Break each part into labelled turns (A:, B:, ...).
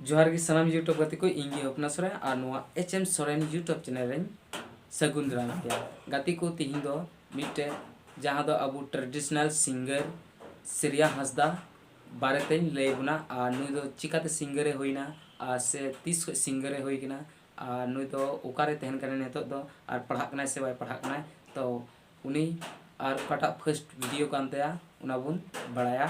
A: ᱡᱚᱦᱟᱨ ᱜᱮ ᱥᱟᱱᱟᱢ ᱭᱩᱴᱩᱵᱽ ᱜᱟᱛᱮ ᱠᱚ ᱤᱧ ᱜᱮ ᱦᱚᱯᱱᱟ ᱥᱚᱨᱮᱱ ᱟᱨ ᱱᱚᱣᱟ H M Soren YouTube channel ᱨᱮᱧ ᱥᱟᱹᱜᱩᱱ ᱫᱟᱨᱟᱢ ᱯᱮᱭᱟ ᱜᱟᱛᱮ ᱠᱚ ᱛᱮᱦᱮᱧ ᱫᱚ ᱢᱤᱫᱴᱮᱡ ᱡᱟᱦᱟᱸ ᱫᱚ ᱟᱵᱚ ᱴᱨᱮᱰᱤᱥᱚᱱᱟᱞ ᱥᱤᱝᱜᱟᱨ ᱥᱨᱮᱭᱟ ᱦᱟᱸᱥᱫᱟ ᱵᱟᱨᱮᱛᱮᱧ ᱞᱟᱹᱭ ᱵᱚᱱᱟ ᱟᱨ ᱱᱩᱭ ᱫᱚ ᱪᱤᱠᱟᱛᱮ ᱥᱤᱝᱜᱟᱨ ᱮ ᱦᱩᱭᱱᱟ ᱟᱨ ᱥᱮ ᱛᱤᱥ ᱠᱷᱚᱡ ᱥᱤᱝᱜᱟᱨ ᱮ ᱦᱩᱭ ᱠᱟᱱᱟ ᱟᱨ ᱱᱩᱭ ᱫᱚ ᱚᱠᱟᱨᱮ ᱛᱟᱦᱮᱱ ᱠᱟᱱᱟᱭ ᱱᱤᱛᱚᱜ ᱫᱚ ᱟᱨ ᱯᱟᱲᱦᱟᱜ ᱠᱟᱱᱟᱭ ᱥᱮ ᱵᱟᱭ ᱯᱟᱲᱦᱟᱜ ᱠᱟᱱᱟᱭ ᱛᱚ ᱩᱱᱤ ᱟᱨ ᱚᱠᱟᱴᱟᱜ ᱯᱷᱟᱹᱥᱴ ᱵᱷᱤᱰᱤᱭᱳ ᱠᱟᱱ ᱛᱟᱭᱟ ᱚᱱᱟ ᱵᱚᱱ ᱵᱟᱲᱟᱭᱟ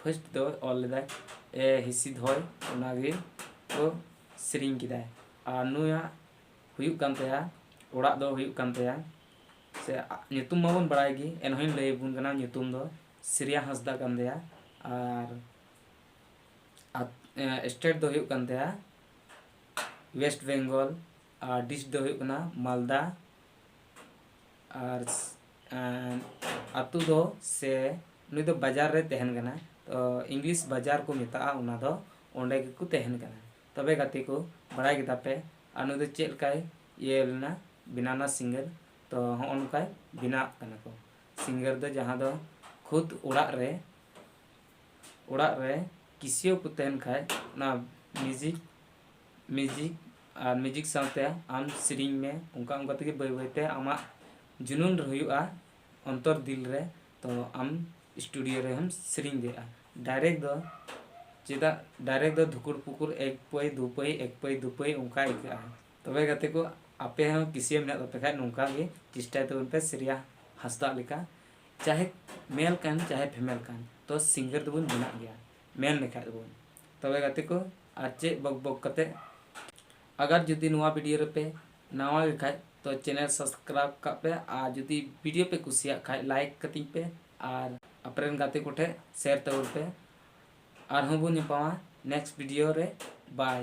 A: ᱯᱷᱟᱹᱥᱴ ᱫᱚ ᱚᱞ ᱞᱮᱫᱟᱭ ᱮ ᱦᱤᱥᱤᱫ ᱦᱚᱭ ᱚᱱᱟᱜᱮ ᱠᱚ ᱥᱮᱨᱮᱧ ᱠᱮᱫᱟᱭ ᱟᱨ ᱱᱩᱭᱟᱜ ᱦᱩᱭᱩᱜ ᱠᱟᱱ ᱛᱟᱭᱟ ᱚᱲᱟᱜ ᱫᱚ ᱦᱩᱭᱩᱜ ᱠᱟᱱ ᱛᱟᱭᱟ ᱥᱮ ᱧᱩᱛᱩᱢ ᱢᱟᱵᱚᱱ ᱵᱟᱲᱟᱭ ᱜᱮ ᱮᱱᱦᱚᱸᱧ ᱞᱟᱹᱭ ᱟᱵᱚᱱ ᱠᱟᱱᱟ ᱧᱩᱛᱩᱢ ᱫᱚ ᱥᱨᱮᱭᱟ ᱦᱟᱸᱥᱫᱟ ᱠᱟᱱ ᱛᱟᱭᱟ ᱟᱨ ᱥᱴᱮᱴ ᱫᱚ ᱦᱩᱭᱩᱜ ᱠᱟᱱ ᱛᱟᱭᱟ ᱳᱭᱮᱥᱴ ᱵᱮᱝᱜᱚᱞ ᱟᱨ ᱰᱤᱥᱴ ᱫᱚ ᱦᱩᱭᱩᱜ ᱠᱟᱱᱟ ᱢᱟᱞᱫᱟ ᱟᱨ ᱟᱛᱳ ᱫᱚ ᱥᱮ ᱩᱱᱤ ᱫᱚ ᱵᱟᱡᱟᱨ ᱨᱮ ᱛᱟᱦᱮᱱ ᱠᱟᱱᱟ ᱛᱚ ᱤᱝᱞᱤᱥ ᱵᱟᱡᱟᱨ ᱠᱚ ᱢᱮᱛᱟᱜᱼᱟ ᱚᱱᱟ ᱫᱚ ᱚᱸᱰᱮ ᱜᱮᱠᱚ ᱛᱟᱦᱮᱱ ᱠᱟᱱᱟ ᱛᱚᱵᱮ ᱜᱟᱛᱮ ᱠᱚ ᱵᱟᱲᱟᱭ ᱠᱮᱫᱟ ᱯᱮ ᱟᱨ ᱱᱩᱭ ᱫᱚ ᱪᱮᱫ ᱞᱮᱠᱟᱭ ᱤᱭᱟᱹ ᱞᱮᱱᱟ ᱵᱮᱱᱟᱣ ᱮᱱᱟ ᱥᱤᱝᱜᱟᱨ ᱛᱚ ᱦᱚᱸᱜᱼᱚ ᱱᱚᱝᱠᱟᱭ ᱵᱮᱱᱟᱜ ᱠᱟᱱᱟ ᱠᱚ ᱥᱤᱝᱜᱟᱨ ᱫᱚ ᱡᱟᱦᱟᱸ ᱫᱚ ᱠᱷᱩᱫ ᱚᱲᱟᱜ ᱨᱮ ᱚᱲᱟᱜ ᱨᱮ ᱠᱤᱥᱤᱭᱳ ᱠᱚ ᱛᱟᱦᱮᱱ ᱠᱷᱟᱡ ᱚᱱᱟ ᱢᱤᱭᱩᱡᱤᱠ ᱢᱤᱭᱩᱡᱤᱠ ᱟᱨ ᱢᱤᱭᱩᱡᱤᱠ ᱥᱟᱶᱛᱮ ᱟᱢ ᱥᱮᱨᱮᱧ ᱢᱮ ᱚᱱᱠᱟ ᱚᱱᱠᱟ ᱛᱮᱜᱮ ᱵᱟᱹᱭ ᱵᱟᱹᱭ ᱛᱮ ᱟᱢᱟᱜ ᱡᱩᱱᱩᱱ ᱦᱩᱭᱩᱜᱼᱟ ᱚᱱᱛᱚᱨ ᱫᱤᱞ ᱨᱮ ᱛᱚ ᱟᱢ ᱥᱴᱩᱰᱤᱭᱳ ᱨᱮᱦᱚᱢ ᱥᱮᱨᱮᱧ ᱫᱟᱲᱮᱭᱟᱜᱼᱟ ᱰᱟᱭᱨᱮᱠᱴ ᱫᱚ ᱪᱮᱫᱟᱜ ᱰᱟᱭᱨᱮᱠᱴ ᱫᱚ ᱫᱷᱩᱠᱩᱨ ᱯᱩᱠᱩᱨ ᱮᱠ ᱯᱟᱹᱭ ᱫᱩ ᱯᱟᱹᱭ ᱮᱠ ᱯᱟᱹᱭ ᱫᱩ ᱯᱟᱹᱭ ᱚᱱᱠᱟ ᱟᱹᱭᱠᱟᱹᱜᱼᱟ ᱛᱚᱵᱮ ᱜᱟᱛᱮ ᱠᱚ ᱟᱯᱮ ᱦᱚᱸ ᱠᱤᱥᱤᱭᱟᱹ ᱢᱮᱱᱟᱜ ᱛᱟᱯᱮ ᱠᱷᱟᱱ ᱱᱚᱝᱠᱟ ᱜᱮ ᱪᱮᱥᱴᱟᱭ ᱛᱟᱵᱚᱱ ᱯᱮ ᱥᱨᱮᱭᱟ ᱦᱟᱸᱥᱫᱟ ᱞᱮᱠᱟ ᱪᱟᱦᱮ ᱢᱮᱞ ᱠᱟᱱ ᱪᱟᱦᱮ ᱯᱷᱤᱢᱮᱞ ᱠᱟᱱ ᱛᱚ ᱥᱤᱝᱜᱟᱨ ᱫᱚᱵᱚᱱ ᱵᱮᱱᱟᱜ ᱜᱮᱭᱟ ᱢᱮᱱ ᱞᱮᱠᱷᱟᱡ ᱫᱚᱵᱚᱱ ᱛᱚᱵᱮ ᱜᱟᱛᱮ ᱠᱚ ᱟᱨ ᱪᱮᱫ ᱵᱚᱠ ᱵᱚᱠ ᱠᱟᱛᱮ ᱟᱜᱟᱨ ᱡᱩᱫᱤ ᱱᱚᱣᱟ ᱵᱷᱤᱰᱤᱭᱳ ᱨᱮᱯᱮ ᱱᱟᱣᱟ ᱜᱮ ᱠᱷᱟᱡ ᱛᱚ ᱪᱮᱱᱮᱞ ᱥᱟᱵᱥᱠᱨᱟᱭᱤᱵ ᱠᱟᱜ ᱯᱮ ᱟᱨ ᱡᱩᱫᱤ ᱵᱷᱤᱰᱤᱭᱳ ᱯᱮ ᱠᱩᱥᱤᱭᱟᱜ ᱠᱷᱟᱡ ᱞᱟᱭᱤᱠ ᱠᱟᱹᱛᱤᱧ ᱯᱮ ᱟᱨ ᱟᱯᱮᱨᱮᱱ ᱜᱟᱛᱮ ᱠᱚᱴᱷᱮ ᱥᱮᱭᱟᱨ ᱛᱟᱵᱚᱱ ᱯᱮ ᱟᱨᱦᱚᱸ ᱵᱚᱱ ᱧᱟᱯᱟᱢᱟ ᱱᱮᱠᱥᱴ ᱵᱷᱤᱰᱤᱭᱳ ᱨᱮ ᱵᱟᱭ